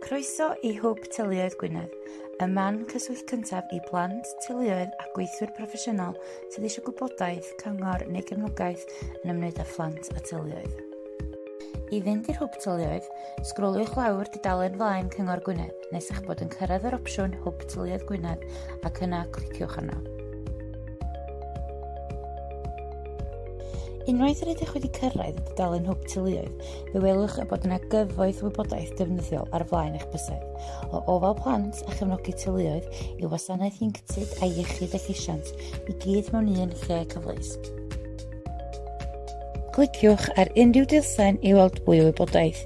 Croeso i Hwb Teuluoedd Gwynedd, y man cyswllt cyntaf i blant, teuluoedd a gweithwyr proffesiynol sydd eisiau gwybodaeth, cyngor neu gefnogaeth yn ymwneud â phlant a teuluoedd. I fynd i'r Hwb Teuluoedd, sgroliwch lawr dudalen flaen Cyngor Gwynedd nes eich bod yn cyrraedd yr opsiwn Hwb Teuluoedd Gwynedd ac yna cliciwch arno. Unwaith yr ydych wedi cyrraedd y dudalen hwb teuluoedd, Fe welwch y bod yna gyfoeth wybodaeth defnyddiol ar flaen eich bysedd, o ofal plant a chefnogi teuluoedd i wasanaeth ieuenctid a iechyd a llesiant i gyd mewn un lle cyfleus. Cliciwch ar unrhyw dilsen i weld mwy o wybodaeth.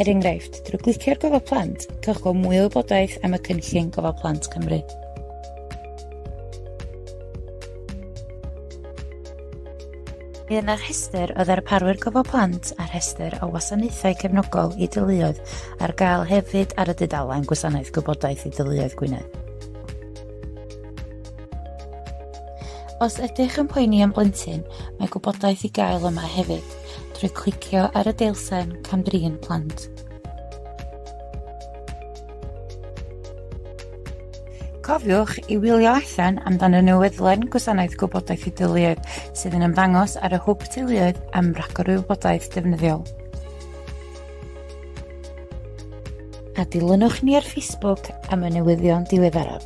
Er enghraifft, drwy glicio ar gofal plant, cewch gweld mwy o wybodaeth am y cynllun gofal plant Cymru. Bydd yna rhestr o ddarparwyr gofal plant a rhestr o wasanaethau cefnogol i deuluoedd ar gael hefyd ar y dudalen Gwasanaeth Gwybodaeth i Deuluoedd Gwynedd. Os ydych yn poeni am blentyn, mae gwybodaeth i gael yma hefyd, drwy clicio ar y deilsen Camdrin Plant. Cofiwch i wylio allan amdan y newyddlen Gwasanaeth Gwybodaeth i Deuluoedd sydd yn ymddangos ar y Hwb Teuluoedd am ragor o wybodaeth defnyddiol. A dilynwch ni ar Facebook am y newyddion diweddaraf.